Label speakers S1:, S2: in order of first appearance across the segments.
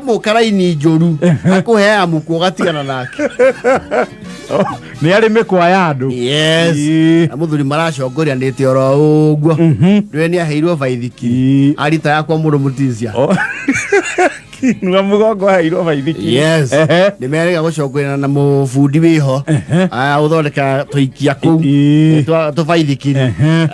S1: mũka raini njũru akũhe amuku ũgatigana nake nä arä mä kwa ya andå yes Ĩĩ. na mũthuri maracongoranĩte oro ũguo nĩwe nĩ aheirwo baithiki Ĩĩ. arita yakwa mũrũ mũtizia nua må gongo hairwo baithiki yes Ehe. nĩ merega gũcongorana na mũbundi wĩho ũthondeka tũikia kũu Ĩĩ. tũbaithikiri Ehe.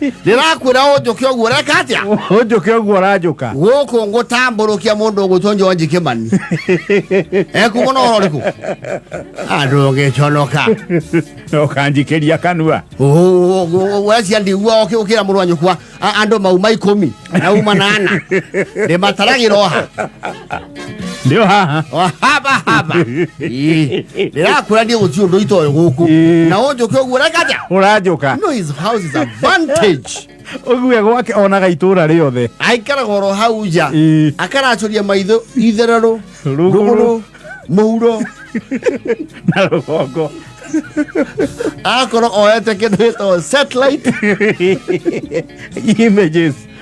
S1: ndĩrakwĩra ũnjũke ũguo reka atĩa ũnjũke ũguo ũranjũka gũkũ ngũtambũrũkia mũndũ ũgwĩtwo njonji kĩmani ekuma na ũhoro ũrĩkũ andũ ũgĩconoka ũkanjikĩria kanua wecia ndigua ũkĩra mũrũ wa nyũkwa a- andũ mauma ikũmi na uma nana ndĩmataragĩra oha ndio haha haba haba Ii, ndirakura ndi guthi undu itoyo guku Ii. na wonje ukioguo rekaja ũranjũka no his house is advantage ũgue gwake onaga itũra rĩothe aikara goro hau nja Ii. akaracuria maitho ithererũ Rũgũrũ. rũgũrũ mũhuro na rũgongo akorwo oyete kĩndũ gĩtagwo satellite images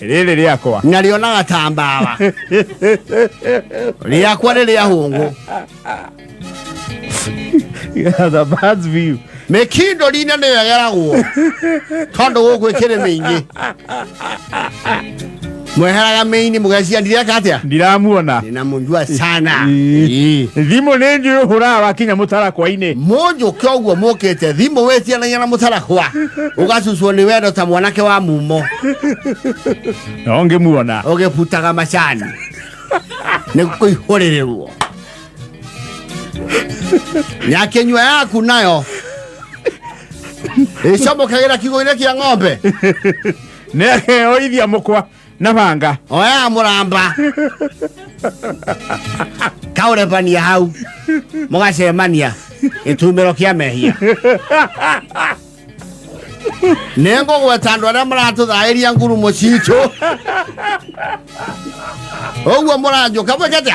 S1: rĩrĩ rĩakwa narĩo na gatambawa rĩakwa nĩ rĩa hũngũ the birds view mĩkindo rina nĩyo ĩgeragwo tondũ gũkũ ĩkĩrĩ mĩingĩ mweheraga mĩini mũgeciandireka atĩa ndiramuona na munjua sana Ii. thimå nä njå hå raga wakinya må tarakwa-inä munjuke uguo mukite thimu witianagia na mutarakwa ugacucwo ni wendo ta mwanake wa mumo no ngä muona ugibutaga macani ni kuihurirwo na kinywa yaku nayo icomokagira kiugo-ini kia ng'ombe nä akeoithia må kwa na banga oya muramba kaurebania hau mugacemania gĩtumĩro kĩa mehia nĩ ngũgweta andũ arĩa maratũthaĩria ngurumo citũ ũguo mũranjũka mwĩkete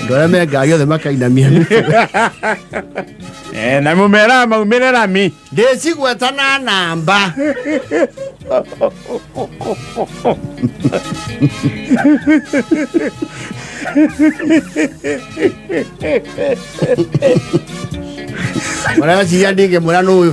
S1: Andũ arĩa mengagio othe makainamia Eh, na mumera maumirira mi ndĩcigweta na namba ũreciria ndingĩmwĩra nũyũ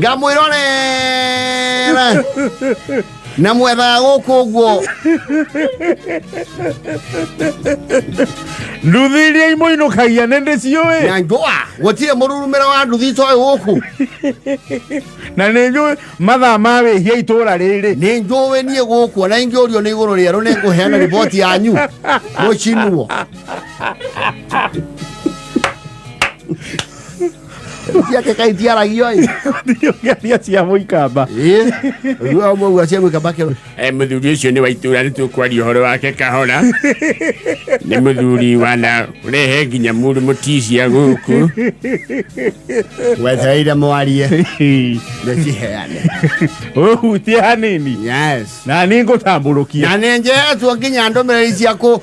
S1: ngamwirore na mwethaga gũkũ ũguo nduthi iria imũinũkagia nĩ ndĩ ciũĩ na njũa gũtirĩ mũrurumĩra wa nduthi coĩ gũkũ na nĩ njũĩ mathaa ma wĩhia itũũra rĩrĩ nĩ njũĩ niĩ gũkũ ona ingĩũrio nĩ igũrũ rĩerũ nĩ ngũheana riboti yanyu mũcinwo cia ke kai tiaragio ai ndio gari cia muikamba eh ruo mo gwa cia muikamba ke eh muthuri ucio ni wa itura ni tukwari horo wake kahora ni muthuri wana rehe nginya muru mutisia guku wetereire mwarie ndekiheane uhutie hanini yes na ningutamburukia na ninjetu nginya ndomereri ciaku